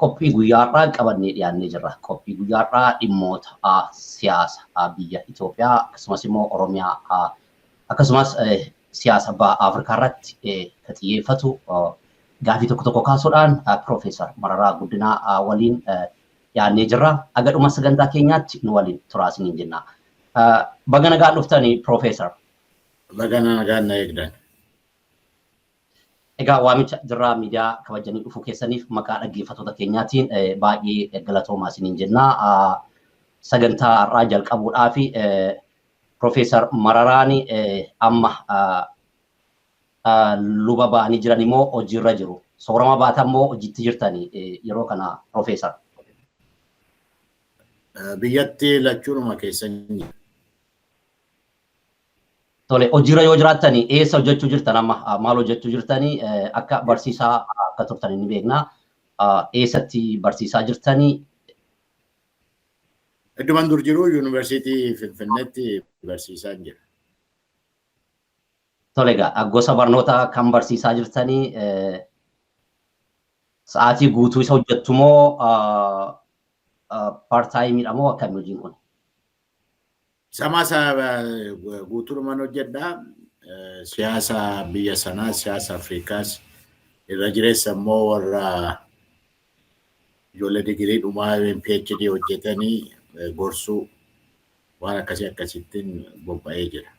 Qophii guyyaa har'aa qabannee dhiyaannee jirra. Qophii guyyaa har'aa dhimmoota siyaasa biyya Itoophiyaa akkasumas immoo Oromiyaa akkasumas siyaasa baha Afrikaa irratti kan xiyyeeffatu gaafii tokko tokko kaasuudhaan Piroofeesar Mararaa Guddinaa waliin dhiyaannee jirra. Aga dhuma sagantaa keenyaatti nu waliin turaa isiniin jenna. Baga nagaan dhuftani Piroofeesar. Baga nagaan na eegdan. Egaa waamicha Jirraa Miidiyaa kabajjanii dhufuu keessaniif maqaa dhaggeeffattoota keenyaatiin baay'ee galatoomaa isiniin jenna. Sagantaa har'aa jalqabuudhaaf Profeesar Mararaan amma luba ba'anii jiran immoo hojiirra jiru. Soorama baatan immoo hojiitti jirtani yeroo kana Profeesar. Biyyatti lachuunuma keessan jira. Tole hojiirra yoo jiraattani eessa hojjechuu jirtan amma maal hojjechuu jirtani akka barsiisaa akka turtan inni beekna eessatti barsiisaa jirtani. Idduman dur jiru yuunivarsiitii Finfinneetti barsiisaa jira. Tole egaa gosa barnoota kan barsiisaa jirtani sa'aatii guutuu isa hojjettu moo paartaayimiidha moo akkami hojiin kun? Samaa isaa guutuudhuman hojjedha. Siyaasa biyya sanaa, siyaasa Afrikaas irra jireessa immoo warra ijoollee digirii dhumaa yookiin PhD hojjetanii gorsuu waan akkasii akkasittiin bobba'ee jira.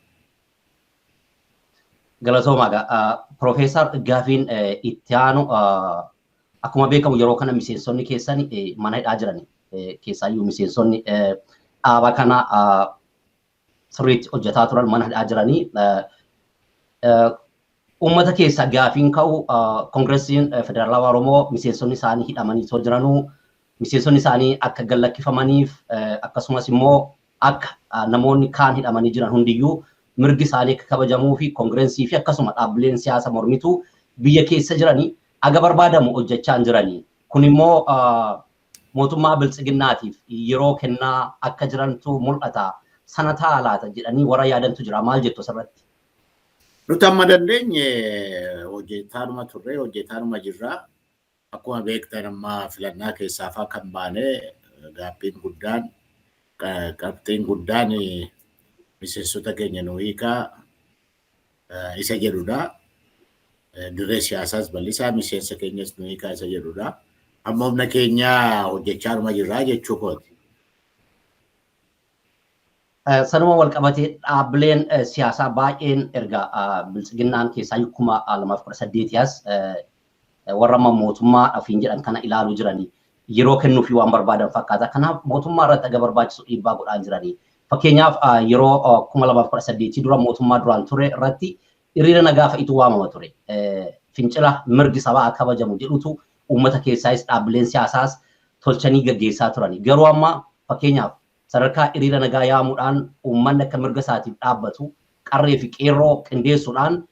Galatoomaa egaa Piroofeesar gaafiin itti aanu Akkuma beekamu yeroo kana miseensonni keessan mana hidhaa jirani. Keessaayyuu miseensonni dhaaba kana sirriitti hojjetaa turan mana hidhaa jiranii. Uummata keessa gaafiin ka'u Koongiresiin Federaalawaa Oromoo miseensonni isaanii hidhamanii osoo jiranuu miseensonni isaanii akka gad lakkifamaniif akkasumas immoo akka namoonni kaan hidhamanii jiran hundiyyuu mirgi isaanii akka kabajamuu fi koongirensii fi akkasuma dhaabbileen siyaasa mormituu biyya keessa jiranii haga barbaadamu hojjechaa hin jirani. Kun immoo mootummaa Biltsiginnaatiif yeroo kennaa akka jirantu mul'ata. Sana ta'a laata jedhanii warra yaadantu jira. Maal jettu asirratti? Nuti amma dandeenye hojjetaanuma turre, hojjetaanuma jirra. Akkuma beektan amma filannaa keessaa fa'aa kan baane gaabbiin guddaan qabxiin guddaan miseensota keenya nu hiikaa isa jedhudha. Dirree siyaasaas bal'isaa miseensa keenyas nu hiikaa isa jedhudha. Amma humna keenya hojjechaa dhuma jirra jechuu kooti. Sanuma wal qabatee dhaabbileen siyaasaa baay'een erga biltsiginnaan keessaa kuma lamaaf kudha saddeetii as warra amma mootummaa ofiin jedhan kana ilaaluu jiranii yeroo kennuufii waan barbaadan fakkaata. Kanaaf mootummaa irratti aga barbaachisu dhiibbaa godhaan jiranii. Fakkeenyaaf yeroo 2018 dura mootummaa duraan ture irratti hiriira nagaa fa'itu waamama ture. Fincila mirgi sabaa kabajamu jedhutu uummata keessaayis dhaabbileen siyaasaas tolchanii gaggeessaa turani. Garuu amma fakkeenyaaf sadarkaa iriira nagaa yaamuudhaan uummanni akka mirga isaatiif dhaabbatu qarree fi qeerroo qindeessuudhaan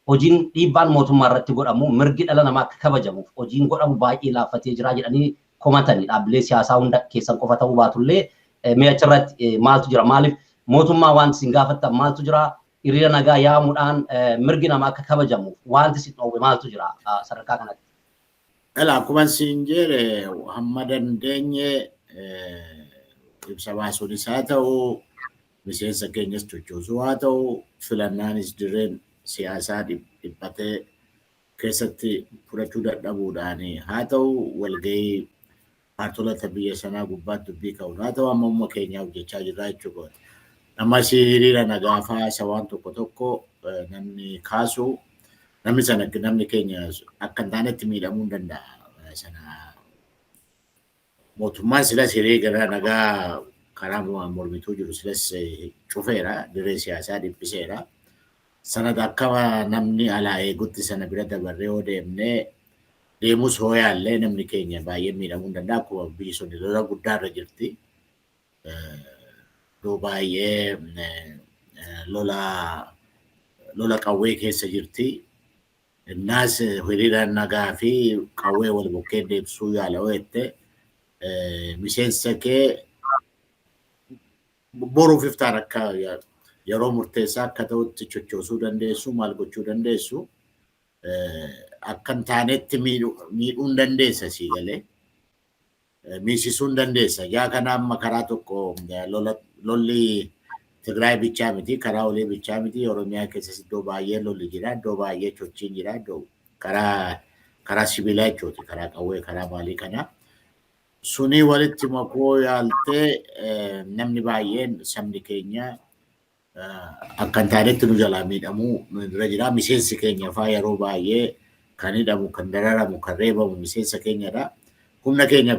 hojiin dhiibbaan mootummaa irratti godhamu mirgi dhala namaa akka kabajamuuf hojiin godhamu baay'ee laaffatee jira jedhanii komatani dhaabbilee siyaasaa hunda keessan qofa ta'uu baatullee mee achirratti maaltu jira maaliif mootummaa wanti isin gaafattan maaltu jira hiriira nagaa yaamuudhaan mirgi namaa akka kabajamuuf wanti isin dhoowwe maaltu jira sadarkaa kanatti. Ela akkuman siin jeere hamma dandeenye ibsa baasuunis haa ta'u miseensa keenyas chochoosuu haa ta'u filannaanis dirreen siyaasaa dhiphatee keessatti fudhachuu dadhabuudhaan haa ta'u walgahii kaartolata biyya sanaa gubbaatti dubbii ka'uun haa ta'u amma uumma keenyaa hojjechaa jirraa jechuu kooti. Namas hiriira nagaa fa'aa isa waan tokko tokko namni kaasu namni sana namni keenya akka hin taanetti miidhamuu hin danda'a. Sana mootummaan silas hiriira nagaa karaa mormituu jiru silas cufeera dirree siyaasaa dhiphiseera. Sana akka namni alaa eegutti sana bira dabarree yoo deemnee deemus hoo yaallee namni keenya baay'een miidhamuu hin danda'a. Akkuma biyyi sun lola guddaa irra jirti. Iddoo baay'ee lola lola qawwee keessa jirti. Innaas hiriira nagaa fi qawwee wal bukkee deebisuu yaala yoo jette miseensa kee boruuf iftaan akka yeroo murteessaa akka ta'utti chochoosuu dandeessu maal gochuu dandeessu akka hin taanetti miidhuu hin dandeessa sii galee. Miisisuu hin dandeessa. Ijaa kana amma karaa tokko lolli Tigraay bichaa miti, karaa olii bichaa miti. Oromiyaa keessas iddoo baay'ee lolli jira, iddoo baay'ee chochiin jira, iddoo karaa karaa sibiilaa jechuuti, karaa qawwee, karaa maalii kanaa. Sunii walitti makuu yaaltee namni baay'een sabni keenya akka hin taanetti nu jalaa miidhamuu nu irra jira. Miseensi keenya faa yeroo baay'ee kan hidhamu, kan dararamu, kan reebamu miseensa keenyadha. Humna keenya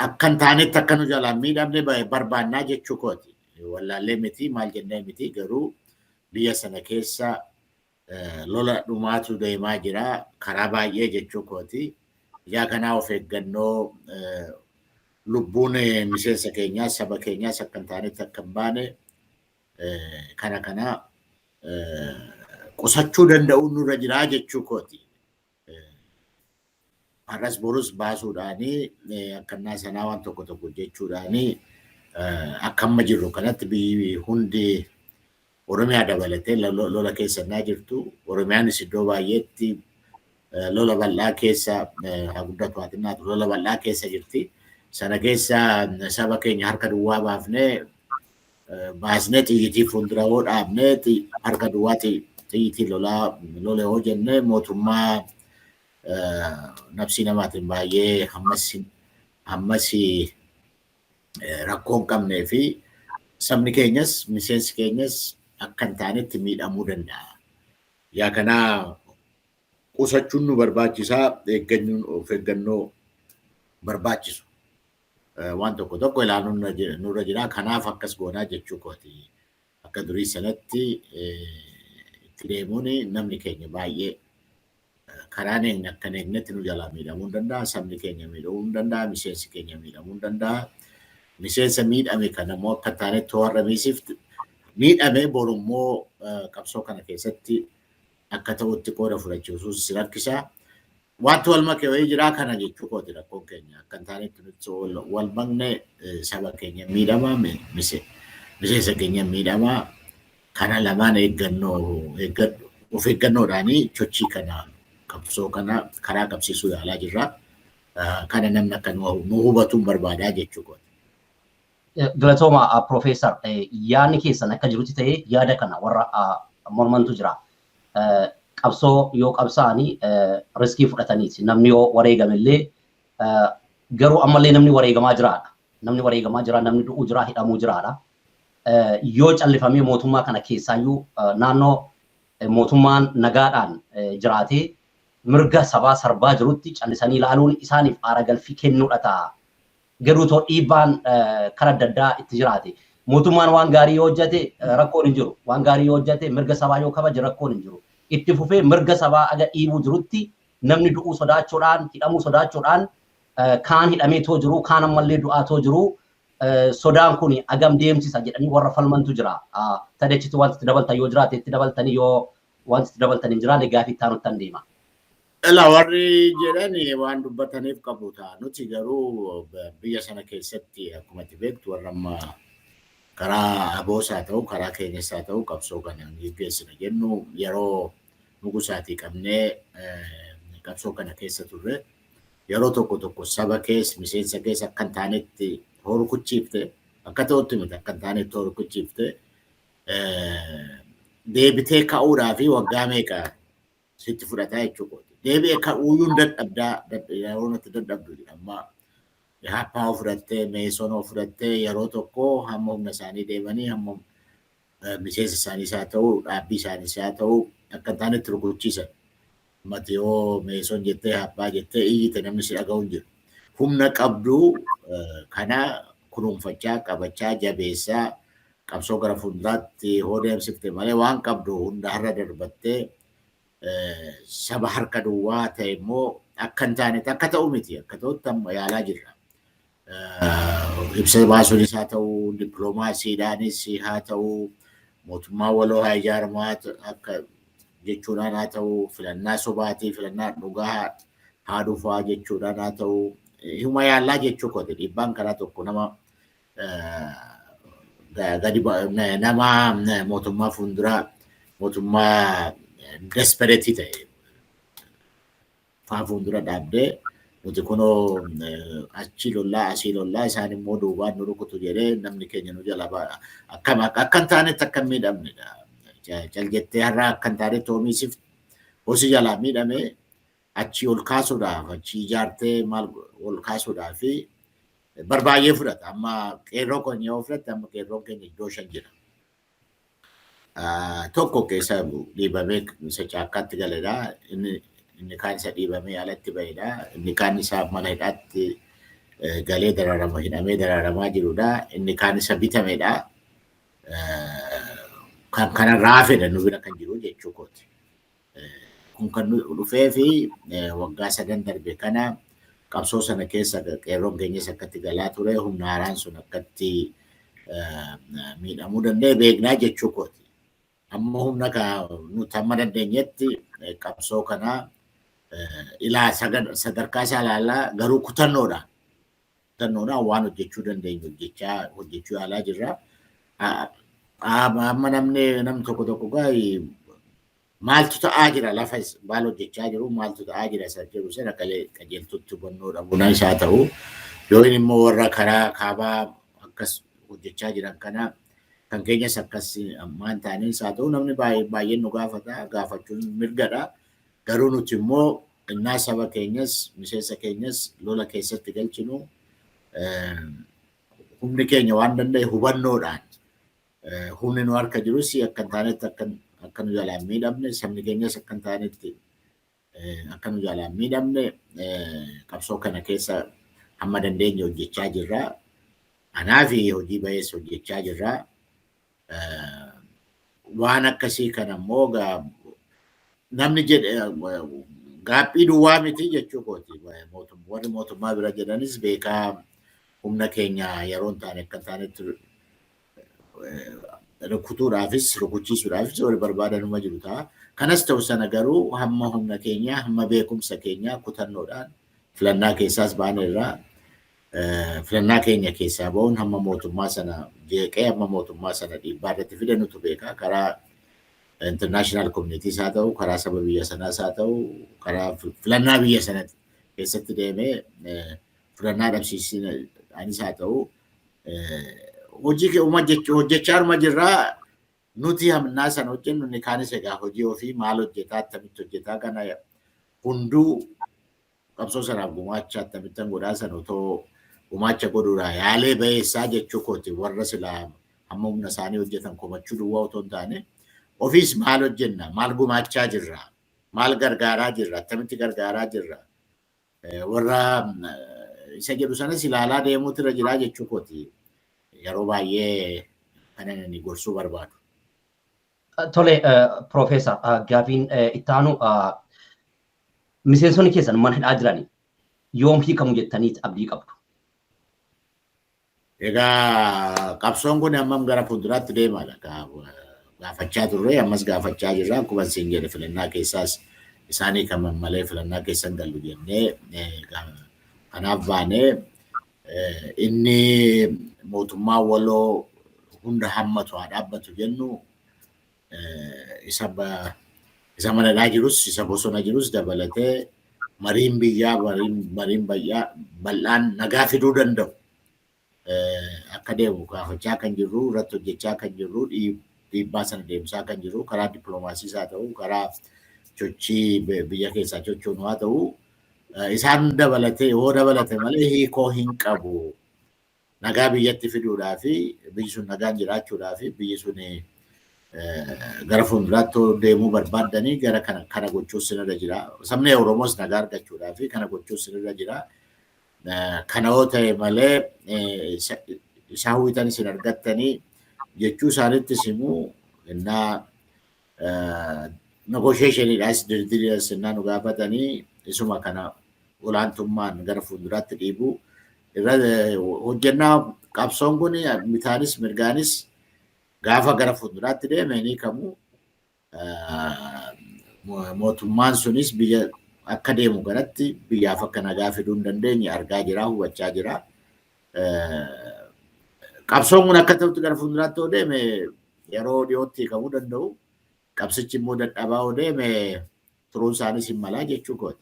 akka hin taanetti akka nu jalaa miidhamne barbaannaa jechuu kooti. Wallaallee miti maal jennee miti garuu biyya sana keessa Lola dhumaatu deemaa jira. Karaa baay'ee jechuu kooti. Ijaa kanaa of eeggannoo lubbuun miseensa keenyaas saba keenyaas akka hin taanetti akka hin baane kana kana qusachuu danda'uun nurra jiraa jechuu kooti. har'as borus baasuudhaanii akkannaa sanaa waan tokko tokko jechuudhaanii akka amma jirru kanatti biyyi hundi Oromiyaa dabalatee lola keessa naa jirtu. Oromiyaanis iddoo baay'eetti lola bal'aa keessa haa guddatu haa xinnaatu lola bal'aa keessa jirti. Sana keessa saba keenya harka duwwaa baafnee baasnee xiyyitii fuuldura yoo dhaabne harka duwwaa xiyyitii lolaa lole yoo jenne mootummaa nafsii namaatiin baay'ee hammas hammas rakkoo hin qabnee fi sabni keenyas miseensi keenyas akka hin taanetti miidhamuu danda'a. Yaa kanaa qusachuun nu barbaachisaa eeggannoo barbaachisu. waan tokko tokko ilaaluun nurra jira. Kanaaf akkas goonaa jechuu kooti. Akka durii sanatti itti deemuun namni keenya baay'ee karaan eegna akkan eegnetti nu jalaa miidhamuu hin danda'a. Sabni keenya miidhamuu hin danda'a. Miseensi keenya miidhamuu hin danda'a. Miseensa miidhame kana immoo akka taanetti warra miisifti miidhame boru immoo qabsoo kana keessatti akka ta'utti qooda fudhachiisuus si rakkisa. Wanti wal make wayii jiraa kana jechuu kooti rakkoon keenya akka hin taanetti nuti wal makne saba keenya miidhamaa miseensa keenya miidhamaa kana lamaan eeggannoo eeggadhu of eeggannoodhaanii chochii kana qabsoo kana karaa qabsiisuu yaalaa jirra. Kana namni akka nu hubatuun barbaadaa jechuu kooti. Galatooma Piroofeesar yaadni keessan akka jirutti ta'ee yaada kana warra mormantu jira. qabsoo yoo qabsaa'ani riskii fudhataniiti. Namni yoo wareegame illee garuu ammallee namni wareegamaa jiraadha. Namni wareegamaa jira, namni du'uu jira, hidhamuu jiraadha. Yoo callifamee mootummaa kana keessaayyuu naannoo mootummaan nagaadhaan jiraatee mirga sabaa sarbaa jirutti callisanii ilaaluun isaaniif aara galfii kennuudha ta'a. Garuu too dhiibbaan kara adda addaa itti jiraate. Mootummaan waan gaarii yoo hojjate rakkoon hin jiru. Waan gaarii yoo hojjate mirga sabaa yoo kabaje rakkoon hin jiru. Itti fufee mirga sabaa aga dhiibuu jirutti namni du'uu sodaachuudhaan, hidhamuu sodaachuudhaan kaan hidhamee too jiru, kaan ammallee du'aa too jiru sodaan kun agam deemsisa jedhanii warra falmantu jira. Tadee achitti wanti itti dabaltan yoo jiraate itti dabaltanii yoo wanti itti dabaltan hin jiraanne gaafii itti aanuttan deema. Ela warri jedhan waan dubbataniif qabu ta'a. Nuti garuu biyya sana keessatti akkuma itti beektu warra amma karaa aboos haa ta'u karaa keenyas haa ta'u qabsoo kana geggeessina jennu yeroo nugusaatii qabnee qabsoo kana keessa turre yeroo tokko tokko saba kees miseensa kees akka hin taanetti horukuchiifte akka ta'utti miti akka hin taanetti horukuchiifte deebitee ka'uudhaa fi waggaa meeqa sitti fudhataa jechuu kooti. Deebi'e ka'uuyyuun dadhabdaa yeroo nuti dadhabdu jedha amma Ihaappaa fudhattee Meesonoo fudhattee yeroo tokko hamma humna isaanii deemanii hamma miseensa isaaniis haa ta'u dhaabbii isaaniis haa ta'u akka hin taanetti rukuchiisan. Mati yoo Meeson jettee Ihaappaa jettee iyyite namni si dhaga'u hin jiru. Humna qabdu kana kunuunfachaa qabachaa jabeessaa qabsoo gara fuulduraatti hoo deemsifte malee waan qabdu hunda har'a darbattee saba harka duwwaa ta'e immoo akka hin taanetti akka ta'u miti akka ta'utti amma yaalaa jirra. Ibsa baasuunis haa ta'u dippiloomaasiidhaanis haa ta'u mootummaa waloo haa ijaaramu akka jechuudhaan haa ta'u filannaa sobaatii filannaa dhugaa haa dhufaa jechuudhaan haa ta'u hima yaallaa jechuu kooti dhiibbaan karaa tokko nama gadi nama mootummaa fuulduraa mootummaa despereetii ta'e faa fuuldura dhaabdee nuti kunoo achi lollaa asii lollaa isaan immoo duubaan nu rukutu jedhee namni keenya nu jala ba'a. Akkam akka hin taanetti akka hin miidhamnedha. Cal jettee har'aa akka hin taanetti homiisif hosi jalaa miidhamee achii ol kaasuudhaaf achii ijaartee maal ol kaasuudhaaf bar baay'ee fudhata. Amma qeerroo keenya yoo fudhatte amma qeerroon keenya iddoo shan jira. Tokko keessa dhiibamee isa caakkaatti galedha. Inni kaan isa dhiibamee alatti bahedha. Inni kaan isaa mana hidhaatti galee daraarama hidhamee daraaramaa jirudha. Inni kaan isa bitamedha. Kan kanarraa hafedha nu bira kan jiru jechuu kooti. Kun kan dhufee fi waggaa sadan darbe kana qabsoo sana keessa qeerroon keenyas akkatti galaa ture humna haaraan sun akkatti miidhamuu danda'e beeknaa jechuu kooti. Amma humna nuti amma dandeenyetti qabsoo kana ilaa sadarkaa isaa ilaalaa garuu kutannoodha. Kutannoodhaan waan hojjechuu dandeenyu hojjechaa hojjechuu yaalaa jirra. Amma namni namni tokko tokko gaa'ii maaltu ta'aa jira lafa maal hojjechaa jiru maaltu ta'aa jira isa jedhu sana galee qajeeltutti hubannoo dhabuun isaa ta'u yoo inni immoo warra karaa kaabaa akkas hojjechaa jiran kana kan keenyas akkas ammaan taaneen isaa ta'u namni baay'een nu gaafata gaafachuun mirgadha garuu nuti immoo Ennaa saba keenyas, miseensa keenyas lola keessatti galchinu humni keenya waan danda'e hubannoodhaan humni nu harka jirus akka hin taanetti akka nu jalaan miidhamne sabni keenyas akka hin taanetti akka nu jalaan miidhamne qabsoo kana keessa hamma dandeenye hojjechaa jirra. Anaa fi hojii bayees hojjechaa jirra. waan akkasii kana immoo namni jedhe gaaffii duwwaa miti jechuu kooti. Warri mootummaa bira jedhanis beekaa humna keenya yeroo hin taane akka hin taanetti rukutuudhaafis rukuchiisuudhaafis wal barbaadanuma jiru ta'a. Kanas ta'u sana garuu hamma humna keenyaa hamma beekumsa keenyaa kutannoodhaan filannaa keessaas baaneerraa Filannaa keenya keessaa ba'uun hamma mootummaa sana jeeqee hamma mootummaa sana dhiibbaa irratti fide nutu beeka. Karaa international communities haa ta'u, karaa saba biyya sanaas haa ta'u, karaa filannaa biyya sana keessatti deemee filannaa dhabsiisina anis haa ta'u hojii kee uma jechuu hojjechaa arma jirraa nuti hamnaa sana hojjennu inni kaanis egaa hojii ofii maal hojjetaa attamitti hojjetaa kana hunduu qabsoo sanaaf gumaacha attamittan godhaa san otoo gumaacha godhuudhaa yaalee bayeessaa jechuu kooti warra silaa hamma humna isaanii hojjetan komachuu duwwaa otoo hin taane ofiis maal hojjenna maal gumaachaa jirra maal gargaaraa jirra attamitti gargaaraa jirra warra isa jedhu sanas ilaalaa deemuutu irra jiraa jechuu kooti yeroo baay'ee kanan ani gorsuu barbaadu. Tole Profeesar gaafiin itti aanu miseensonni keessan mana hidhaa jiran yoom hiikamu jettanii abdii qabdu? Egaa qabsoon kun ammam gara fuulduraatti deemaadha. Gaafachaa turre ammas gaafachaa jirra akkuma isin jedhe filannaa keessaas isaanii kan malee filannaa keessan gallu jennee kanaaf baanee Inni mootummaa waloo hunda hammatu haa dhaabbatu jennu isa manadhaa jirus isa bosona jirus dabalatee mariin biyyaa mariin bal'aan nagaa fiduu danda'u akka deemu gaafachaa kan jirru irratti hojjechaa kan jirru dhiibbaa sana deemsaa kan jirru karaa dippiloomaasiis haa ta'u karaa sochii biyya keessaa sochoonu haa ta'u isaan dabalatee yoo dabalate malee hiikoo hin qabu. Nagaa biyyatti fiduudhaa fi biyyi sun nagaan jiraachuudhaa fi biyyi sun gara fuulduraatti deemuu barbaaddanii gara kana kana gochuus sinirra jira. Sabni Oromoos nagaa argachuudhaa fi kana gochuus sinirra jira. Kana yoo ta'e malee isaa hawwitan isin argattanii jechuu isaanitti simuu innaa negotiationiidhaas diriirii sennaa nu gaafatanii isuma kana olaantummaan gara fuulduraatti dhiibuu irra hojjennaa qabsoon kun bitaanis mirgaanis gaafa gara fuulduraatti deeme ni kamu mootummaan sunis biyya akka deemu kanatti biyyaaf akka nagaa fiduu hin dandeenye argaa jira hubachaa jira. Qabsoon kun akka ta'utti gara fuulduraatti yoo deeme yeroo dhiyootti hiikamuu danda'u. Qabsichi immoo dadhabaa yoo deeme turuun isaaniis hin malaa jechuu kooti.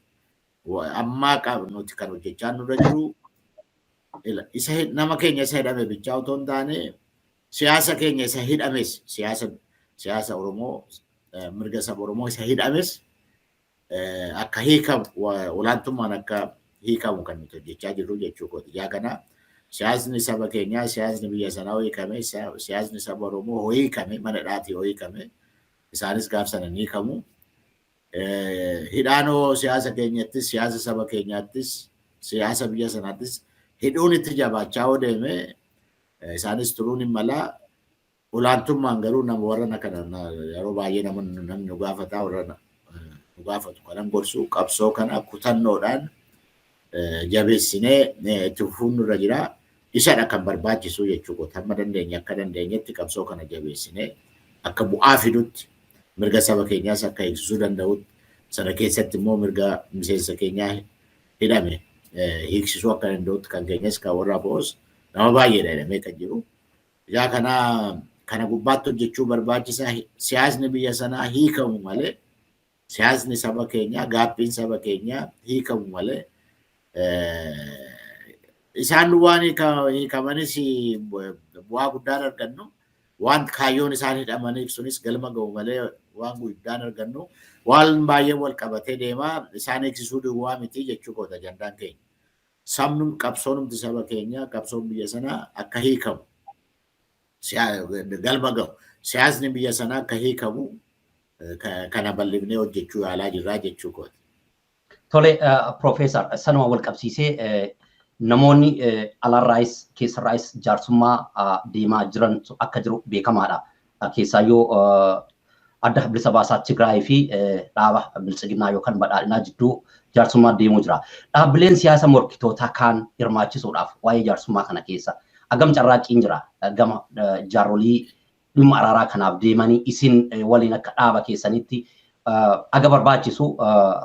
Amma nuti kan hojjechaa nurra jiru isa nama keenya isa hidhame bichaa otoo hin taane siyaasa keenya isa hidhames siyaasa siyaasa Oromoo mirga saba Oromoo isa hidhames akka hiikamu olaantummaan akka hiikamu kan nuti hojjechaa jirru jechuu kooti. Yaa kana siyaasni saba keenyaa siyaasni biyya sanaa hoo hiikame siyaasni saba Oromoo hoo hiikame mana hidhaatii hoo hiikame isaanis gaaf sana ni hiikamu. Hidhaanoo siyaasa keenyattis siyaasa saba keenyaattis siyaasa biyya sanaattis hidhuun itti jabaachaa hoo deeme isaanis turuun hin malaa Olaantummaan garuu nama warrana kana na- yeroo baay'ee nama namni nu gaafataa warra na- nu gaafatu kanan gorsu qabsoo kana kutannoodhaan eh, jabeessinee eh, itti fufuun nurra jira. Isadha kan barbaachisu jechuu kooti. Hamma dandeenye akka dandeenyetti qabsoo kana jabeessinee akka bu'aa fidutti mirga saba keenyaas akka eegsisuu danda'utti sana keessatti immoo mirga miseensa keenyaa hidhame eh, hiiksisuu akka danda'utti kan keenyas kan warra bo'os nama baay'eedha hidhamee kan jiru. Yaa kana kana gubbaatti hojjechuu barbaachisaa siyaasni biyya sanaa hiikamu malee siyaasni saba keenyaa gaaffiin saba keenyaa hiikamu malee isaan waan hiikamanis bu'aa guddaan argannu waan kaayyoon isaan hidhamaniif sunis galma ga'u malee waan guddaan argannu waan baay'ee wal qabatee deemaa isaan eegsisuu duwwaa miti jechuu koota ajandaan keenya. sabnum qabsoonumti saba keenyaa qabsoon biyya sanaa akka hiikamu galma gahu siyaasni biyya sanaa akka hiikamu kana bal'ifnee hojjechuu yaalaa jirraa jechuu kooti. Tole Piroofeesar sanuma wal qabsiisee namoonni alaarraayis keessarraayis jaarsummaa deemaa jiran akka jiru beekamaadha. keessaayyuu adda bilisa baasaa Tigraay fi dhaaba biltsiginnaa yookaan badhaadhinaa jidduu jaarsummaa deemuu jira. Dhaabbileen siyaasa morkitootaa kaan hirmaachisuudhaaf waa'ee jaarsummaa kana keessa hagam carraaqqiin jira gama jaarrolii dhimma araaraa kanaaf deemanii isin waliin akka dhaaba keessanitti aga barbaachisu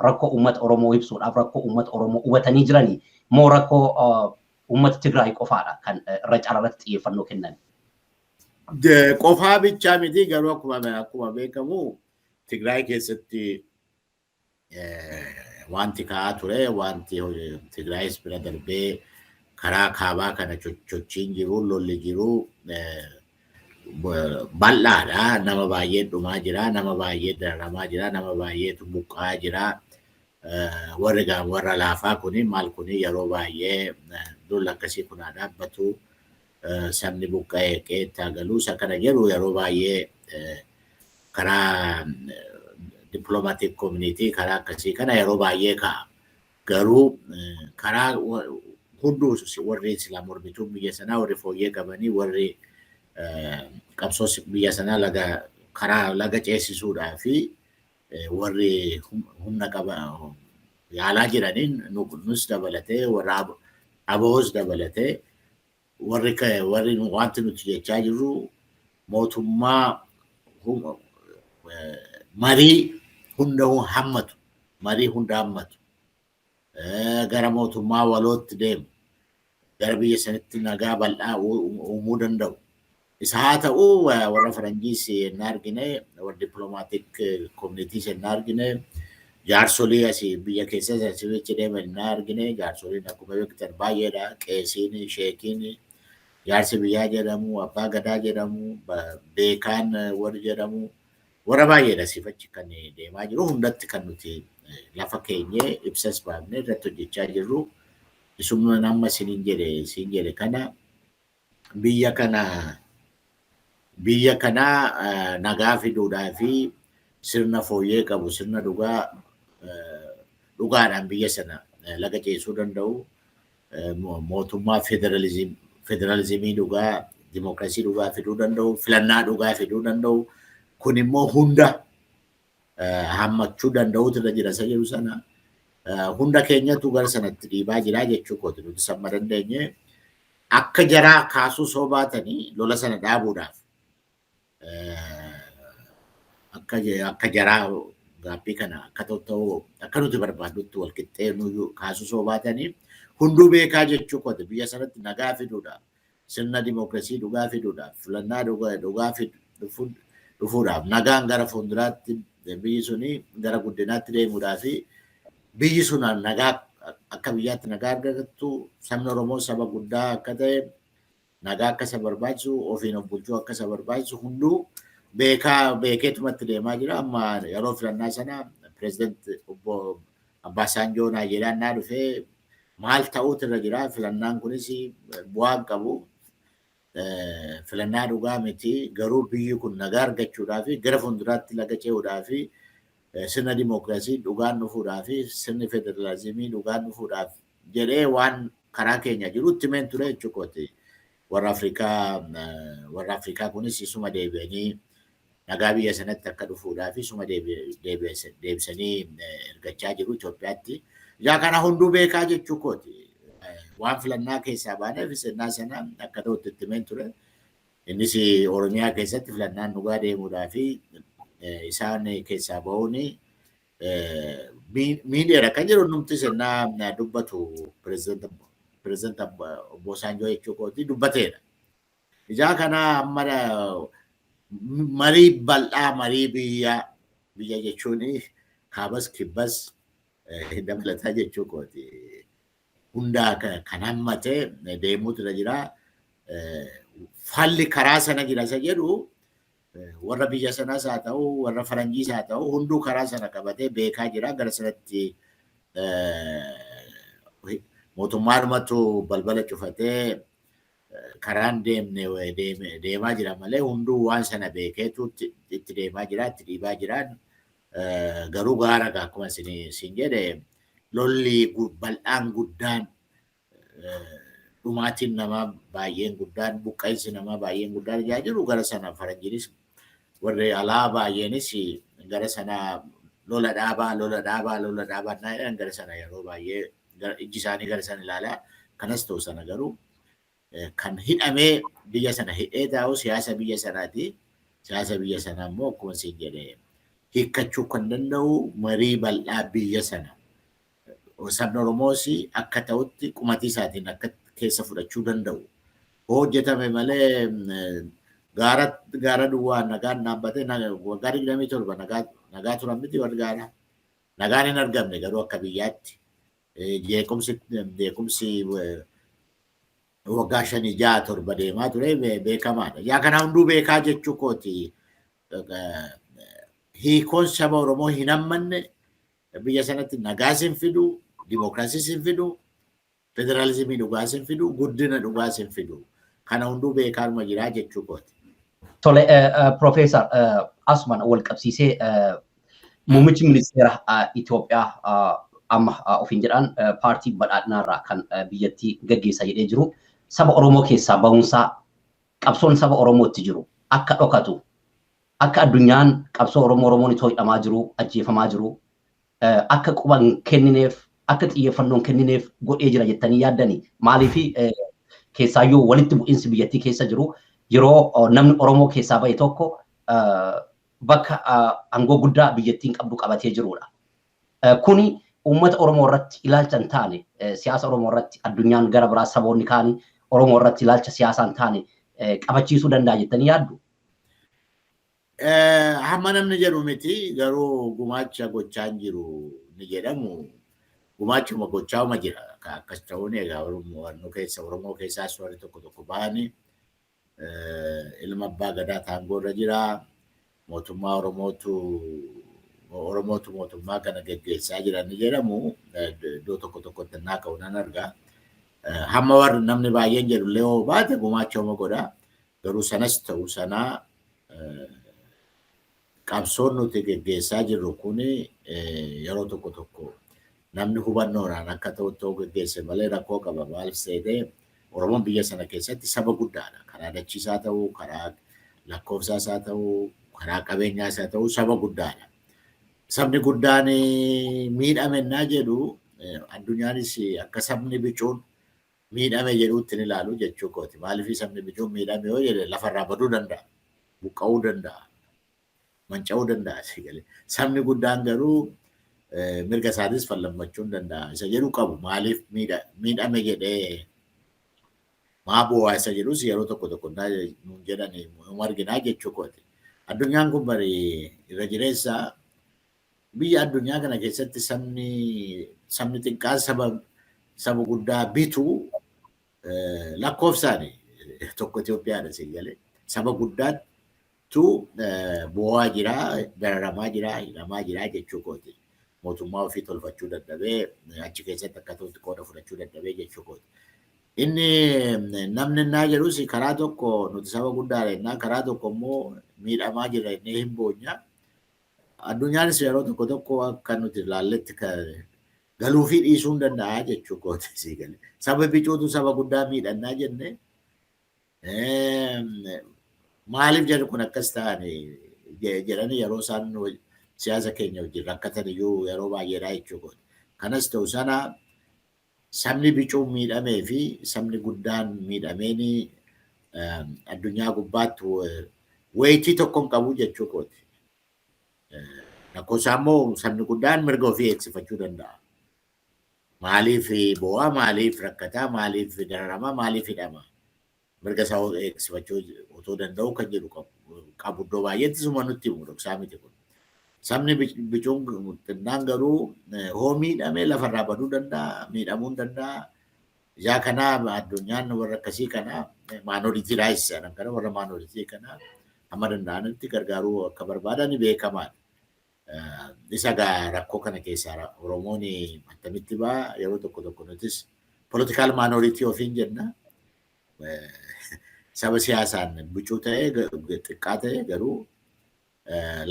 rakkoo uummata Oromoo ibsuudhaaf rakkoo uummata Oromoo hubatanii jiranii moo rakkoo uummata Tigraay qofaadha kan irra cararratti xiyyeeffannoo kennan. Qofaa bichaa miti garuu akkuma akkuma beekamu Tigraay keessatti wanti ka'aa ture wanti Tigraayis bira darbee karaa kaabaa kana chochiin jiru lolli jiru bal'aadha nama baay'ee dhumaa jira nama baay'ee dararamaa jira nama baay'eetu buqqaa jira warri warra laafaa kuni maal kuni yeroo baay'ee lola akkasii kunaa dhaabbatu sabni buqqa'e qe'eetti haa galuu isa kana jedhu yeroo baay'ee karaa diplomatic community karaa akkasii kana yeroo baay'ee ka'a. Garuu karaa hunduu warri silaa mormituun biyya sanaa warri fooyyee qabanii warri qabsoo biyya sanaa laga karaa laga ceesisuudhaa fi warri humna qaba yaalaa jiraniin nus dabalatee warra ABOs dabalatee warri warri wanti nuti jechaa jirru mootummaa marii hunda hammatu marii hunda hammatu gara mootummaa walootti deemu, gara biyya sanitti nagaa bal'aa uumuu danda'u. Isa haa ta'u warra faranjiis yennaa argine, warra diplomaatik koominiitiis yennaa argine, jaarsolii asi biyya keessas asi achi deeman yennaa argine, jaarsoliin akkuma beektan baay'eedha. Qeesiin, sheekiin, jaarsi biyyaa jedhamu, abbaa gadaa jedhamu, beekaan warri jedhamu, Warra baay'eedha asiif achi kan deemaa jiru hundatti kan nuti lafa keenyee ibsas baafnee irratti hojjechaa jirru isuma amma isiniin jedhe siin jedhe kana biyya kana biyya kana nagaa fiduudhaa fi sirna fooyyee qabu sirna dhugaa dhugaadhaan biyya sana laga ceesuu danda'u mootummaa federalizimii dhugaa dimookiraasii dhugaa fiduu danda'u, filannaa dhugaa fiduu danda'u. Kun immoo hunda hammachuu danda'uutu irra jira isa jedhu sana. Hunda keenyatu gara sanatti dhiibaa jira jechuu kooti nuti samma dandeenye. Akka jaraa kaasuu soo baatanii lola sana dhaabuudhaaf akka akka jaraa gaaffii kana akka ta'u akka nuti barbaadnutti wal qixxee nuyyuu kaasuu soo baatanii hunduu beekaa jechuu kooti biyya sanatti nagaa fiduudha. Sirna dimookiraasii dhugaa fiduudhaaf filannaa dhugaa dhufuudhaaf nagaan gara fuulduraatti biyyi suni gara guddinaatti deemuudhaa fi biyyi sun nagaa akka biyyaatti nagaa argattu sabni Oromoo saba guddaa akka ta'e Nagaa akka isa barbaachisu, ofiin of bulchuu akka isa barbaachisu hunduu beekaa beekeetuma itti deemaa jira. Amma yeroo filannaa sana pireezidant obbo Abbaasaanjoo Naayijeeriyaan naa dhufee maal ta'uutu irra jira filannaan kunis bu'aa hin qabu. Filannaa dhugaa miti garuu biyyi kun nagaa argachuudhaa fi gara fuulduraatti laga ce'uudhaa fi sirna dimookiraasii dhugaan dhufuudhaa fi sirni federaalizimii dhugaan dhufuudhaaf jedhee waan karaa keenya jiru itti himeen ture jechuu kooti. Warra Afrikaa warra Afrikaa kunis isuma deebi'anii nagaa biyya sanatti akka dhufuudhaaf isuma deebisanii ergachaa jiru Itoophiyaatti. Egaa kana hunduu beekaa jechuu kooti. Waan filannaa keessaa baaneef sennaa sana akka ta'utti itti himeen ture. Innis Oromiyaa keessatti filannaan dhugaa deemuudhaa fi isaan keessaa ba'uun miidiyaadha kan jedhu numti sennaa dubbatu pireezidanta obbo Saanjoo jechuu kooti dubbateedha. Ijaa kanaa amma marii bal'aa marii biyyaa biyya jechuun kaabas kibbas dabalataa jechuu kooti. Hundaa kan hammate deemuutu irra jira. Falli karaa sana jira isa jedhu warra biyya sanaas haa ta'u warra faranjiis haa ta'u hunduu karaa sana qabatee beekaa jira gara sanatti mootummaanumatu balbala cufatee karaan deemne deemaa jira malee hunduu waan sana beekeetu itti deemaa jira itti dhiibaa jira garuu gaara akkuma isin jedhe lolli bal'aan guddaan dhumaatiin namaa baay'een guddaan buqqa'insi namaa baay'een guddaan ijaa jiru gara sana faranjiinis warri alaa baay'eenis gara sana lola dhaabaa lola dhaabaa lola dhaabaa naa jedhan gara sana yeroo baay'ee ijji isaanii gara sana ilaalaa kanas ta'u sana garuu kan hidhamee biyya sana hidhee taa'u siyaasa biyya sanaati siyaasa biyya sanaa immoo akkuma siin jedhee hiikkachuu kan danda'u marii bal'aa biyya sana sabni Oromoos akka ta'utti qumatii isaatiin akka keessa fudhachuu danda'u hoo hojjetame malee gaara gaara duwwaa nagaan dhaabbatee waggaa digdamii torba nagaa turan miti warri gaara nagaan hin argamne garuu akka biyyaatti jeequmsi beekumsi waggaa shanii ja'a torba deemaa ture beekamaadha. Yaa kana hunduu beekaa jechuu kooti hiikoon saba Oromoo hin hammanne Biyya sanatti nagaas hin fidu, dimokiraasiis hin fidu, federaalizimii dhugaas hin fidu, guddina dhugaas hin fidu. Kana hunduu beekaanuma jira jechuu kooti. Tole, Profeesar asumaan wal qabsiisee muummichi ministeera Itoophiyaa amma ofiin jedhaan paartii badhaadhinaarraa kan biyyattii gaggeessa jedhee jiru saba Oromoo keessaa ba'uunsaa qabsoon saba Oromootti jiru akka dhokatu Akka addunyaan qabsoo Oromoo Oromoon itoo hidhamaa jiruu, ajjeefamaa jiruu akka quba hin kennineef, akka xiyyeeffannoo hin kennineef godhee jira jettanii yaaddanii? Maaliif keessaayyuu walitti bu'iinsi biyyattii keessa jiru yeroo namni Oromoo keessaa bahe tokko bakka aangoo guddaa biyyattiin qabdu qabatee jirudha. Kuni uummata Oromoo irratti ilaalcha hin taane, siyaasa Oromoo irratti addunyaan gara biraa saboonni kaanii Oromoo irratti ilaalcha siyaasaa hin taane qabachiisuu danda'a jettanii yaaddu? Hamma namni jedhu miti garuu gumaacha gochaa hin jiru ni jedhamu gumaachuma gochaa'uma jira akkas ta'uun egaa Oromoo keessa Oromoo keessaas warri tokko tokko ba'anii ilma abbaa gadaa taangoo irra jira mootummaa Oromootu Oromootu mootummaa kana geggeessaa jira ni jedhamu iddoo tokko tokkotti naa ka'u nan argaa. Hamma warri namni baay'een jedhu illee hoo baate gumaacha homa godhaa. Garuu sanas ta'u sana qabsoon nuti geggeessaa jirru kun yeroo tokko tokko namni hubannoodhaan akka ta'utti yoo geggeesse malee rakkoo qaba. Maaliif seete Oromoon biyya sana keessatti saba guddaadha. Karaa dachiis haa ta'u, karaa lakkoofsaas haa ta'u, karaa qabeenyaas haa ta'u saba guddaadha. Sabni guddaan miidhame innaa jedhu addunyaanis akka sabni bicuun miidhame jedhuutti hin ilaalu jechuu kooti. Maaliif sabni bichuun miidhame yoo jedhe lafa irraa baduu danda'a, buqqa'uu danda'a, manca'uu danda'a si galee. Sabni guddaan garuu mirga isaatis fallammachuun danda'a isa jedhu qabu. Maaliif miidhame jedhee maa boo'aa isa jedhus yeroo tokko tokko nuun jedhan nu arginaa jechuu kooti. Addunyaan kun bari irra jireessa Biyya addunyaa kana keessatti sabni sabni xiqqaan saba saba guddaa bitu lakkoofsaani tokko Itoophiyaadha si galee saba guddaattu boo'aa jira dararamaa jira hidhamaa jira jechuu kooti mootummaa ofii tolfachuu dadhabee achi keessatti akka ta'utti qooda fudhachuu dadhabee jechuu kooti. Inni namni innaa jedhus karaa tokko nuti saba guddaadha innaa karaa tokko immoo miidhamaa jirra innee hin boonya. Addunyaanis yeroo tokko tokko akka nuti ilaalletti galuufii dhiisuu hin danda'a jechuu kooti sii gale. Saba bicuutu saba guddaa miidhannaa jenne maaliif jedhu kun akkas ta'an jedhanii yeroo isaan siyaasa keenya wajjin rakkatan iyyuu yeroo baay'eedhaa jechuu kooti. Kanas ta'u sana Sabni bicuun miidhamee fi sabni guddaan miidhameen addunyaa gubbaatti weetii tokko hin qabu jechuu kooti. Rakkoo isaa immoo sabni guddaan mirga ofii eegsifachuu danda'a. Maaliif boo'a, maaliif rakkataa, maaliif dararama, maaliif hidhama? mirga isaa eegsifachuu otoo danda'uu kan jedhu qabu iddoo baay'eetti suma nutti himu dhoksaa miti kun. Sabni bicuun xinnaan garuu hoo miidhame lafarraa baduu danda'a, miidhamuu danda'a. Yaa kanaa addunyaan warra akkasii kana maanoritii raayis jedhan kana warra maanoritii kana hamma danda'anitti gargaaruu akka barbaadan beekamaadha. Isa gaa rakkoo kana keessaa Oromoon attamitti ba'a yeroo tokko tokko nutis political minority ofiin jenna. Saba siyaasaan bucuu ta'e xiqqaa ta'e garuu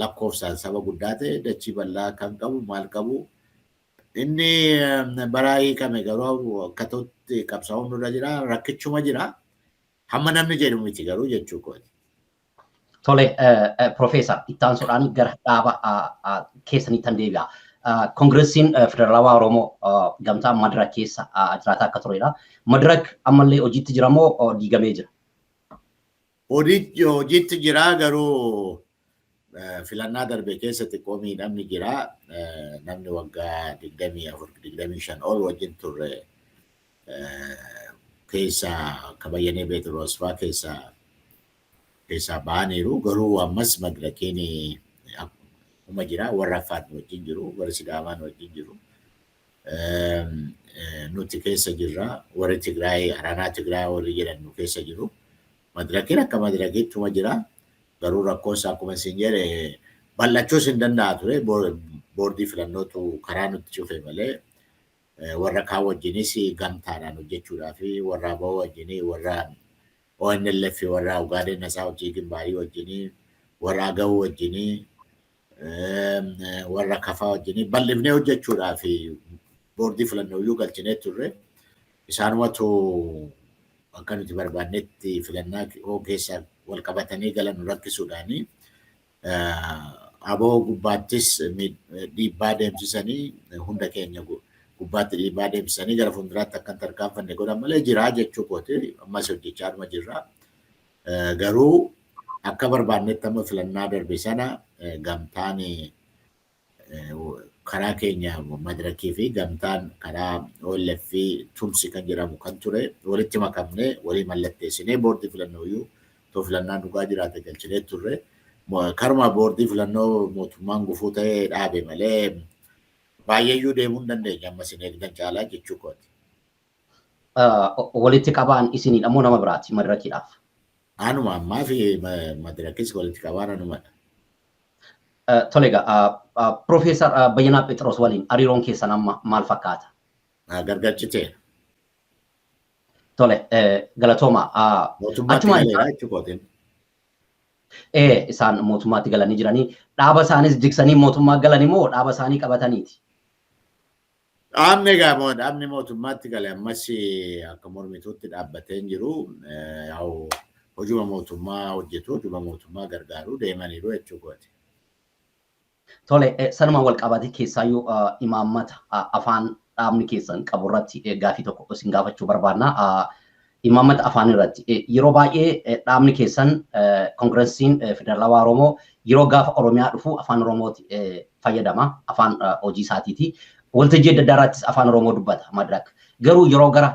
lakkoofsaan saba guddaa ta'e dachii bal'aa kan qabu maal qabu inni baraa hiikame garuu akkatootti qabsaa'uun nurra jira rakkichuma jira hamma namni jedhu miti garuu jechuu kooti. Tole, Profeesar, itti aansuudhaan gara dhaaba keessanii tan deebi'a. Koongiressiin Federaalawaa Oromoo gamtaa Madirak keessa jiraataa akka turedha. Madirak ammallee hojiitti jira moo diigamee jira? Hojiitti jira garuu filannaa darbe keessa xiqqoo miidhamni jira. Namni waggaa 24-25 ol wajjin turre keessa akka Bayyanee Beetiroos fa'aa keessa keessaa ba'aniiru. Garuu ammas madrakeen akkuma jira. Warra Affaar nu wajjin jiru, warri Sidaamaa nu wajjin jiru. Nuti keessa jirra. Warri Tigraay, Aranaa Tigraay warri jedhan nu keessa jiru. Madrakeen akka madrakeettuma jira. Garuu rakkoon isaa akkuma isin jedhe bal'achuus hin danda'a ture. Boordii filannootu karaa nutti cufe malee warra kaan wajjinis gamtaadhaan hojjechuudhaa fi warra aboo wajjin warra ONLF warraa Ugaadeen Nasaa Hojjii Gimbaarii wajjinii, warra Agawuu wajjinii, warra Kafaa wajjinii bal'ifnee hojjechuudhaaf boordii filannooyyuu galchinee turre. Isaanumatu akka nuti barbaannetti filannaa keessaa wal qabatanii galan nu rakkisuudhaanii abo gubbaattis dhiibbaa deemsisanii hunda keenya gubbaatti dhiibbaa deemsisanii gara fuulduraatti akka hin tarkaanfanne godhan malee jiraa jechuu kooti ammas hojjechaa dhuma jirra. Garuu akka barbaannetti amma filannaa darbe sana gamtaan karaa keenya madirakii fi gamtaan karaa OLF fi tumsi kan jedhamu kan ture walitti makamnee walii mallatteessinee boordii filannoo iyyuu too filannaan dhugaa jiraate galchinee turre. Karuma boordii filannoo mootummaan gufuu ta'ee dhaabe malee baay'eeyyuu deemuu hin dandeenye amma isin eegdan caalaa jechuu kooti. Walitti qabaan isinidha moo nama biraati madirakiidhaaf? Anuma ammaa fi madirakis walitti qabaan anumadha. Tole egaa Professor Bayyanaa Phexros waliin hariiroon keessan amma maal fakkaata? Naa gargalchitee. Tole galatooma. Mootummaatti galeera jechuukootiin. Ee isaan mootummaatti galanii jiranii dhaaba isaanis jigsanii mootummaa galani moo dhaaba isaanii qabataniiti? Dhaabni egaa dhaabni mootummaatti gale ammas akka mormituutti dhaabbatee hin jiru. Yaa'u hojuma mootummaa hojjetu, hojuma mootummaa gargaaru deemaniiru jechuu kooti. Tole, sanumaan wal qabatee keessaayyuu imaammata afaan dhaabni keessan qabu irratti gaaffii tokko isin gaafachuu barbaanna. Imaammata afaanii irratti yeroo baay'ee dhaabni keessan Kongiransiin Federaalawaa Oromoo yeroo gaafa Oromiyaa dhufu afaan Oromooti fayyadama afaan hojii isaatiiti. Waltajjii adda addaa irrattis afaan Oromoo dubbata madirak. Garuu yeroo gara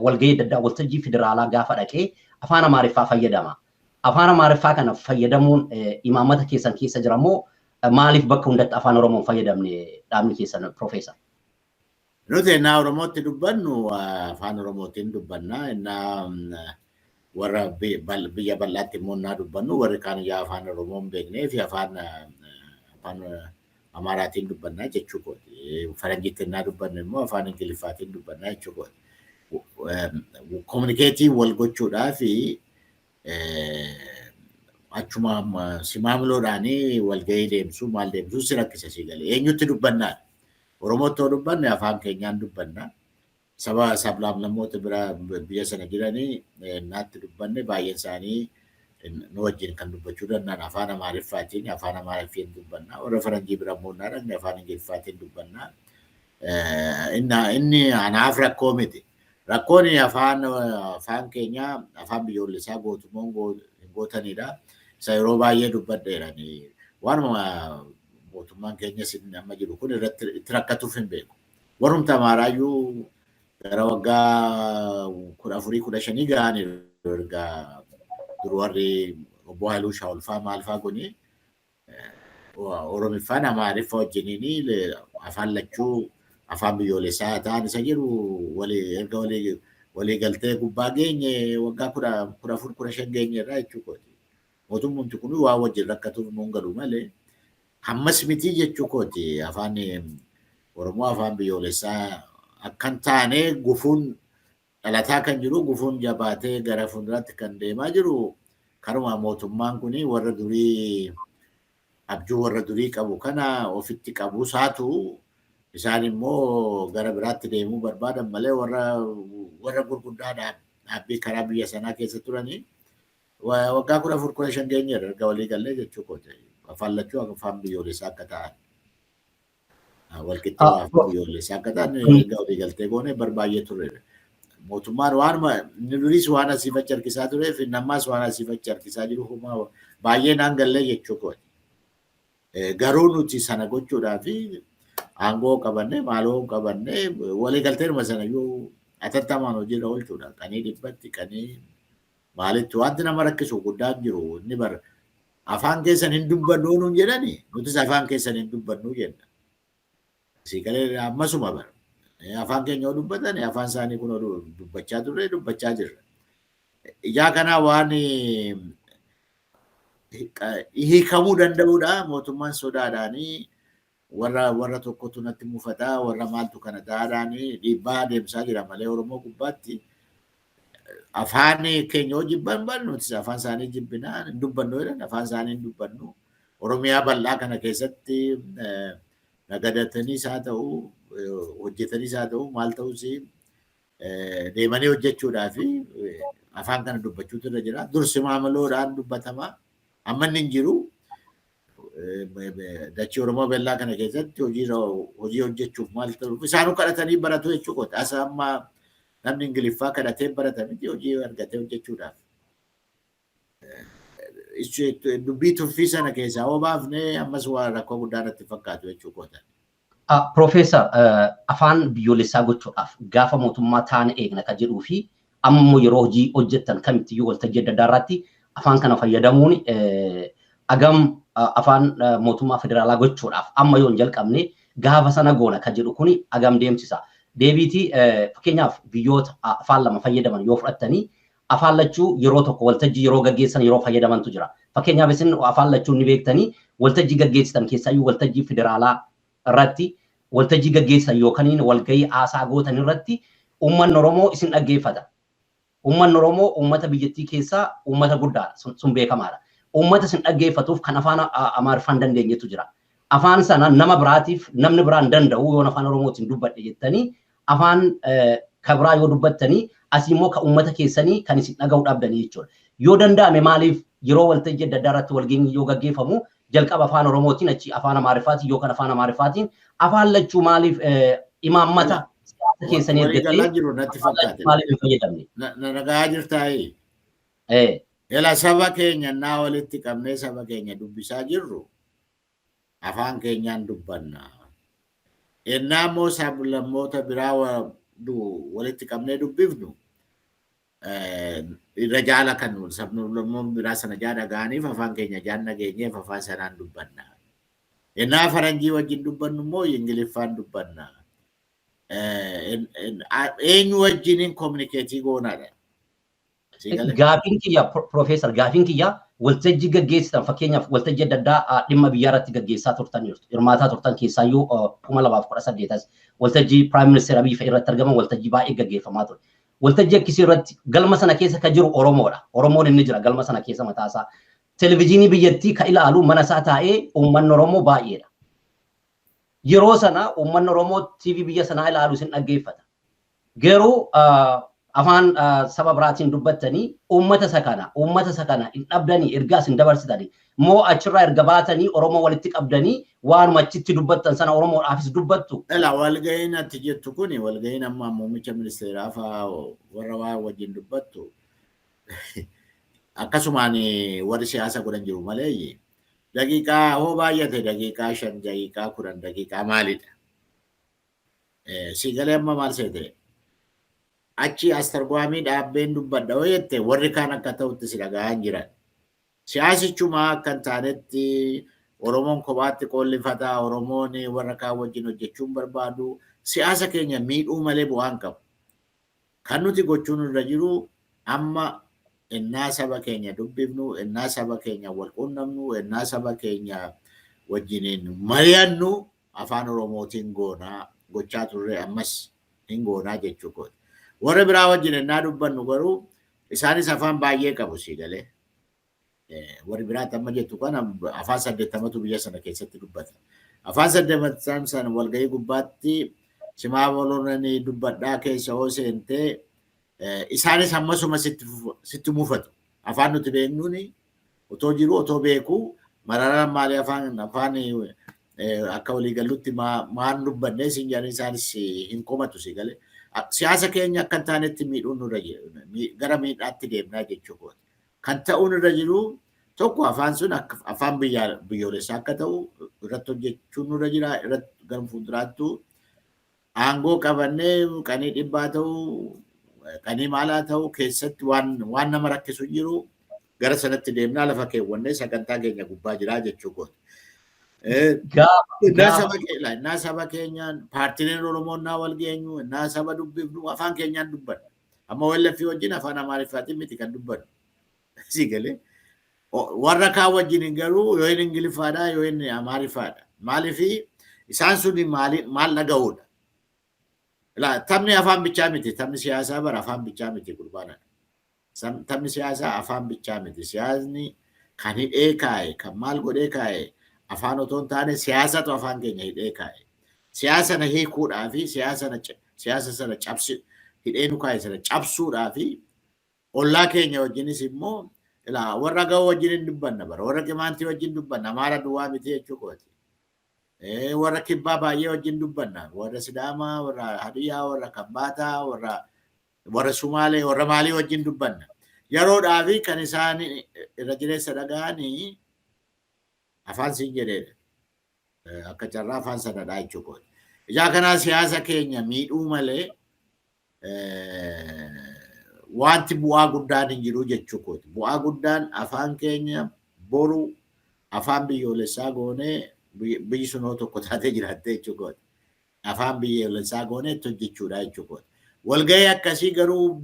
walgahii adda addaa waltajjii federaalaa gaafa dhaqee afaan Amaariffaa fayyadama. Afaan Amaariffaa kana fayyadamuun imaammata keessan keessa jira moo maaliif bakka hundatti afaan Oromoon fayyadamne dhaabni keessan Piroofeesar? Nuti ennaa Oromootti dubbannu afaan Oromootiin dubbanna. Ennaa warra biyya bal'aatti immoo ennaa dubbannu warri kaan yaa afaan Oromoo hin beeknee fi afaan Amaaraatiin dubbanna jechuu kooti. Faranjiitti ennaa dubbannu immoo afaan Ingiliffaatiin dubbanna jechuu kooti. Kominikeetii wal gochuudhaa fi achuma si maamiloodhaan walgahii deemsuu maal deemsuu si rakkisa si galee eenyutti dubbannaa Oromootti yoo dubbanne afaan keenyaan dubbanna saba sablaamlammoota bira biyya sana jiranii naatti dubbanne baay'een isaanii nu wajjin kan dubbachuu danda'an afaan amaariffaatiin afaan amaariffaatiin dubbanna warra faranjii bira immoo naa dhaqne afaan ingiliffaatiin dubbanna inni anaaf rakkoo miti Rakkoon afaan afaan keenya afaan biyyoolessaa gootumoon hin gootanidha. Isa yeroo baay'ee dubbadheera. Waanuma mootummaan keenyas inni amma jiru kun irratti itti rakkatuuf hin beeku. Warrumti Amaaraayyuu gara waggaa kudha afurii kudha shanii ga'aniiru erga dur warri obbo Haayiluu Shaawulfaa maalfaa kuni Oromiffaan Amaariffa wajjiniin afaan lachuu afaan biyyoolessaa haa ta'an isa jedhu erga walii galtee gubbaa geenye waggaa kudha afur kudha shan geenye irraa jechuu kooti. Mootummoomti kun waan wajjin rakkatuuf nuun galu malee ammas mitii jechuu kooti afaan Oromoo afaan biyyoolessaa akkan taane gufuun dhalataa kan jiru gufuun jabaatee gara fuulduraatti kan deemaa jiru kanumaa mootummaan kun warra durii abjuu warra durii qabu kana ofitti qabuu isaatu isaan immoo gara biraatti deemuu barbaadan malee warra warra gurguddaa dhaab- dhaabbii karaa biyya sanaa keessa turanii wa- waggaa kudha afur kudha shan geenyeerra erga walii gallee jechuu kooti. Afaan lachuu afaan biyyoolessaa akka ta'an. Walqixxummaaf biyyoolessa akka ta'an erga walii galtee goone bar baay'ee turre. Mootummaan waanuma inni duriis waan asiif achi harkisaa turee fi nammaas waan asiif achi harkisaa jiru homaa baay'ee naan gallee jechuu kooti. Garuu nuti sana gochuudhaaf aangoo qabannee maaloo qabannee walii galteedhuma sana iyyuu atattamaan hojiirra oolchuudha. Qanii dhibbatti qanii maalitti wanti nama rakkisu guddaan jiru inni bara Afaan keessan hin dubbannuu nuun jedhani nutis afaan keessan hin dubbannuu jenna. Asii galee ammasuma bara. Afaan keenya yoo dubbatan afaan isaanii kun dubbachaa turre dubbachaa jirra. Ijaa kanaa waan hiikamuu danda'uudha mootummaan sodaadhaanii Warra warra tokkotu natti mufata, warra maaltu kana taa'adhaan dhiibbaa adeemsaa jira malee Oromoo gubbaatti afaan keenya yoo jibban bal nutis afaan isaanii jibbina hin dubbannu jedhan afaan isaanii hin dubbannu. Oromiyaa bal'aa kana keessatti eh, nagadataniis haa ta'u eh, hojjetaniis haa ta'u maal ta'us eh, deemanii hojjechuudhaa fi eh, afaan kana dubbachuutu irra jira. Dursi maamaloodhaan dubbatama. Amma inni hin jiru. Dachii Oromoo Bellaa kana keessatti hojii hojii hojjechuuf maal ta'u isaanuu kadhatanii baratu jechuu kooti. Asa amma namni Ingiliffaa kadhatee barata miti hojii argatee hojjechuudhaaf. Dubbii tuffii sana keessaa hoo baafnee ammas waa rakkoo guddaa natti fakkaatu jechuu koota. Piroofeesar, afaan biyyoolessaa gochuudhaaf gaafa mootummaa taana eegna kan jedhuu fi amma immoo yeroo hojii hojjettan kamittiyyuu waltajjii adda addaa irratti afaan kana fayyadamuun hagam afaan mootummaa federaalaa gochuudhaaf amma yoo hin jalqabne gaafa sana goona kan jedhu kun hagam deemsisa. Deebiitii fakkeenyaaf biyyoota afaan lama fayyadaman yoo fudhattanii Afaan lachuu yeroo tokko waltajjii yeroo gaggeessan yeroo fayyadamantu jira. Fakkeenyaaf isin afaan lachuu ni beektanii waltajjii gaggeessitan keessaayyuu waltajjii federaalaa irratti waltajjii gaggeessitan yookaniin walgahii haasaa gootan irratti uummanni Oromoo isin dhaggeeffata. Uummanni Oromoo uummata biyyattii keessaa uummata guddaadha. Sun, sun beekamaadha. Uummata isin dhaggeeffatuuf kan afaan A- Amaariffaa hin dandeenyetu jira. Afaan sana nama biraatiif namni biraa hin danda'u yoon afaan Oromootiin dubbadhe jettanii afaan ka biraa yoo dubbattani asii immoo ka ummata keessanii kan isin dhaga'uu dhabdanii jechuudha. Yoo danda'ame maaliif yeroo waltajjii adda addaa irratti walgeenyi yoo gaggeeffamu jalqaba afaan Oromootiin achi afaan Amaariffaatiin yookaan afaan Amaariffaatiin afaan lachuu maaliif imaammata siyaasa keessanii ergattee jiru natti fakkaate. maaliif hin fayyadamne? Na dhagahaa jirtaayii? Ee. Ela saba keenya naa walitti qabnee saba keenya dubbisaa jirru afaan keenyaan dubbanna. Ennaa immoo sablammoota biraa walitti qabnee dubbifnu irra jaala kan sablammoon biraa sana jaa dhaga'aniif afaan keenya jaan dhageenyeef afaan sanaan dubbanna. Ennaa faranjii wajjin dubbannu immoo Ingiliffaan dubbanna. Eenyu wajjiniin kominikeetii goonaadha. Sii galee? Gaafiin kiyya Pro- Profeesar gaafiin kiyya waltajjii gaggeessitan fakkeenyaaf waltajjii adda addaa ah, dhimma biyyaa irratti gaggeessaa turtan jirtu. Hirmaataa turtan keessaayyuu ah, 2018 as waltajjii Prime Minister Abiy fa'i irratti argaman waltajjii baay'ee gaggeeffamaa ture. Waltajjii akkasii irratti galma sana keessa kan jiru Oromoodha. Oromoon inni jira galma sana keessa mataa isaa. Televezyiinii biyyattii kan ilaalu mana isaa taa'ee uummanni Oromoo baay'eedha. Yeroo sana uummanni Oromoo TV biyya sanaa ilaalu isin dhaggeeffata. Garuu afaan saba biraatiin dubbattanii uummata isa kana uummata isa kana hin dhabdanii ergaa isin dabarsitanii moo achirraa erga baatanii Oromoo walitti qabdanii waanuma achitti dubbattan sana Oromoodhaafis dubbattu? Ela walga'iin ati jettu kuni walga'iin amma muummicha ministeeraa fa'aa warra waa wajjin dubbattu akkasumaan warri siyaasa godhan jiru maleeyyi daqiiqaa hoo baay'ate daqiiqaa shan daqiiqaa kudhan daqiiqaa maalidha? Sii galee amma maal seete? Achi astargwaamii dhaabbeen dubbadha yoo jette warri kaan akka ta'utti si dhagahaan jiran. Siyaasichumaa akka hin taanetti Oromoon kophaatti qoollifataa, Oromoon warra kaan wajjin hojjechuun barbaadu siyaasa keenya miidhuu malee bu'aa hin qabu. Kan nuti gochuun irra jiru amma ennaa saba keenya dubbifnu, ennaa saba keenya wal quunnamnu, ennaa saba keenya wajjiniin mari'annu Afaan Oromootiin goona, gochaa turre ammas hin goonaa jechuu kooti. Warra biraa wajjin ennaa dubbannu garuu isaanis afaan baay'ee qabu sii galee. Warri biraa amma jettu kana afaan saddeettamatu biyya sana keessatti dubbata. Afaan saddeettan sana walgahii gubbaatti simaa bolonanii dubbadhaa keessa hoo seentee isaanis ammasuma sitti mufatu. Afaan nuti beeknuuni Otoo jiruu otoo beekuu Mararaan maalii afaan afaan akka walii gallutti maan dubbannee siin jedhanii isaanis hin komatu si galee. Siyaasa keenya akka hin taanetti miidhuun nurra gara miidhaatti deemnaa jechuu kooti. Kan ta'uun irra jiru tokko afaan sun afaan biyyoolessaa akka ta'u irratti hojjechuun nurra jira irratti gara fuulduraattuu aangoo qabannee qanii dhibbaa ta'u qanii maalaa ta'u keessatti waan waan nama rakkisu hin jiru gara sanatti deemnaa lafa keewwannee sagantaa keenya gubbaa jiraa jechuu kooti. Eh, Gaafa Innaa gaafa saba keenya, innaa saba keenyaan paartileen Oromoo innaa wal geenyu, innaa saba dubbifnu afaan keenyaan dubbanna. Amma OLF wajjin afaan Amaariffaatiin miti kan dubbannu. Sii galee warra kaan wajjin garuu yoo inni Ingiliffaadha yoo inni Amaariffaadha. Maaliif isaan sun maal dhaga'uudha? Taphni afaan bichaa miti. Taphni siyaasaa bara afaan bichaa miti gurbaana. Taphni siyaasaa afaan bichaa miti. Siyaasni kan hidhee kaa'e kan maal godhee kaa'e afaan otoo hin taane siyaasatu afaan keenya hidhee kaa'e. Siyaasa na hiikuudhaa fi siyaasa sana cabsi hidhee nu kaa'e sana cabsuudhaa fi Ollaa keenya wajjinis immoo ilaa warra Agawoo wajjin hin dubbanna bara warra Qimaantii wajjin dubbanna Amaara duwwaa miti jechuu kooti. Eh, Warra Kibbaa baay'ee wajjin dubbanna warra Sidaamaa warra Hadiyyaa warra Kambaataa warra warra Sumaalee warra maalii wajjin dubbanna. Yeroodhaa fi kan isaan irra jireessa dhaga'anii afaan siin jedheedha. Eh, Akka carraa afaan sanadhaa jechuu kooti. Ijaa kanaa siyaasa keenya miidhuu malee wanti bu'aa guddaan hin jiru jechuu kooti. Bu'aa guddaan afaan keenya boru afaan biyyoolessaa goonee biyyi sun hoo tokko taatee jiraattee jechuu kooti. Afaan biyyoolessaa goonee itti hojjechuudha jechuu kooti. Walgahii akkasii garuu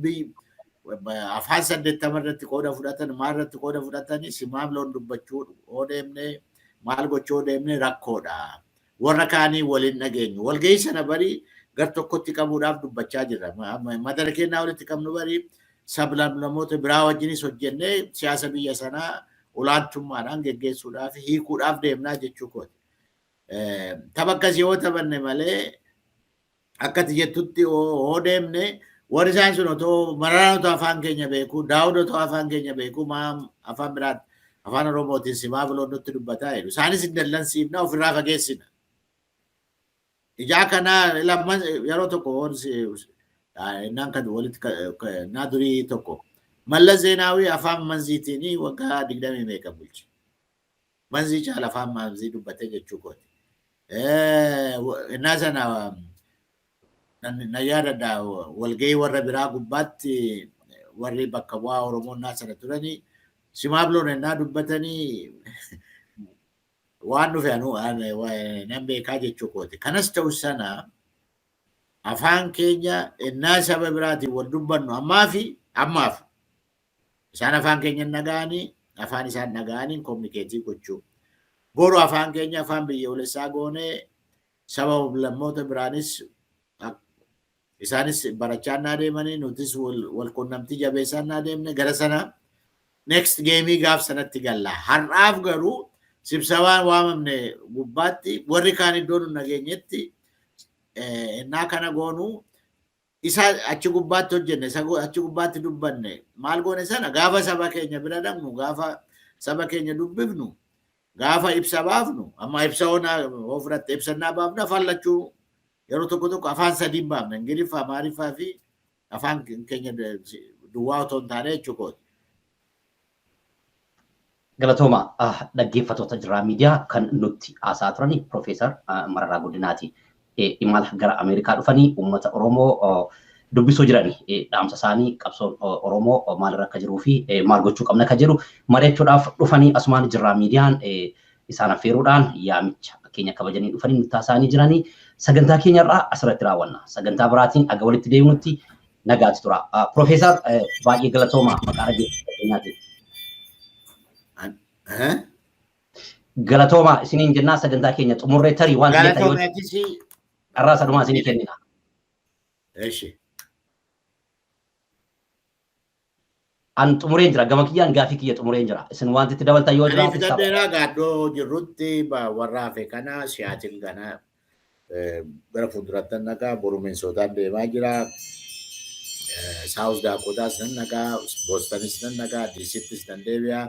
afaan saddeettama irratti qooda fudhatan maal irratti qooda fudhatanii simaaf loon dubbachuu yoo deemnee maal gochuu yoo deemnee rakkoodha. Warra kaanii wal hin dhageenyu. Walgahii sana bari gar tokkotti qabuudhaaf dubbachaa jirra. Madara kennaa walitti qabnu bari sablamlamoota biraa wajjinis hojjennee siyaasa biyya sanaa olaantummaadhaan geggeessuudhaaf hiikuudhaaf deemnaa jechuu kooti. Tapha akkasii yoo taphanne malee akka ati jettutti hoo deemne warri isaan sun otoo mararaan otoo afaan keenya beeku daawud otoo afaan keenya beeku maa afaan biraan afaan oromootiin simaa biloon nutti dubbataa jedhu isaanis hin dallansiifna ofirraa fageessina ijaa kanaa lamman yeroo tokko innaan kan walitti naa durii tokko mallas zeenaawii afaan manziitiin waggaa digdamii meeqa bulche Manzii caala afaan maanzii dubbatee jechuu kooti. Innaa sana na yaadadha walgahii warra biraa gubbaatti warri bakka bu'aa Oromoo innaa sana turanii simaabloon innaa dubbatanii waan dhufe anuu nan beekaa jechuu kooti. Kanas ta'u sana afaan keenya innaa saba biraatiin wal dubbannu ammaa fi ammaaf Isaan afaan keenya hin dhaga'anii, afaan isaan dhaga'aniin kominikeetii gochuu. Boru afaan keenya afaan biyyoolessaa goonee saba lammoota biraanis isaanis barachaa naa deemanii nutis wal quunnamtii jabeessaa naa deemne gara sana next geemii gaaf sanatti galla. Har'aaf garuu sibsabaan waamamne gubbaatti warri kaan iddoo nun nageenyetti ennaa kana goonuu Isa achi gubbaatti hojjenne, isa go- achi gubbaatti dubbanne, maal goone sana gaafa saba keenya bira dhaqnu, gaafa saba keenya dubbifnu, gaafa ibsa baafnu, amma ibsa onaa yoo fudhatte ibsannaa baafna, afaan lachuu yeroo tokko tokko afaan sadiin baafna, Ingiliffa, Amaariffaa fi afaan keenya duwwaa otoo hin taane jechuudha. Galatooma dhaggeeffatoota Jirraa Miidiyaa kan nutti haasa'aa turani Piroofeesar Mararaa Guddinaati. Imala gara Ameerikaa dhufanii uummata Oromoo dubbisuu jirani. Dhaamsa isaanii qabsoon Oromoo maalirra akka jiruu fi maal gochuu qabna akka jedhu mari'achuudhaaf dhufanii asumaan Jirraa Miidiyaan isaan affeeruudhaan yaamicha keenya kabajanii dhufanii nutti haasa'anii jirani. Sagantaa keenya irraa asirratti raawwanna. Sagantaa biraatiin aga walitti deebinutti nagaatti tura. Profeesar baay'ee galatoomaa maqaa dhaggeeffattootaatiin. Galatoomaa isiniin jennaa sagantaa keenya xumurree tarii waan ta'eef yoo carraa sadumaa isinii kennina. Eshi. An xumureen jira. Gama kiyyaan gaafii kiyya xumureen jira. Isin wanti itti dabaltan yoo Ani jiraate fixadhee sababa. naa gaadhoo jirrutti ba- warra hafe kana siyaatiin kana eh, gara fuulduratti nan nagaa boru Minisootaan deemaa jira. Saawus Daakootaas nan nagaa, Boostanis nan nagaa, Diisittis nan deebi'a.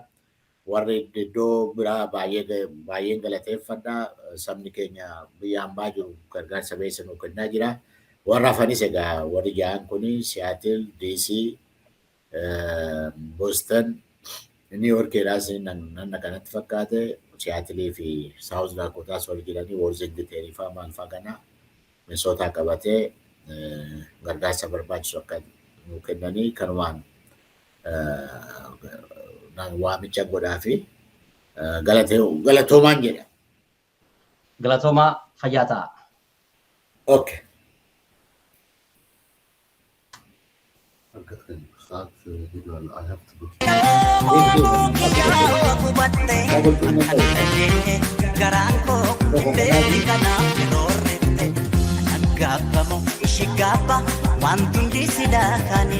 Warri iddoo biraa baay'een galateeffadha. Sabni keenya biyya hambaa jiru gargaarsa beessa nuu kennaa jira. Warra hafanis egaa warri ja'an kun Siyaatil, DC, Boston, Niiw Yoorkiidhaas nan dhaqa natti fakkaate. Siyaatilii fi Saawuz Daakootaas warri jiranii Worzingiteerii faa maal faa kana Minisootaa qabatee gargaarsa barbaachisu akka nuu kennanii kanumaan waamicha godhaa fi galatoomaan jedha. Galatoomaa fayyaa ta'a. Okay. Garaan koo beekni kanaaf hin oolletti. Gaabbamu ishii gaabba waan tundi sidaa kaanii.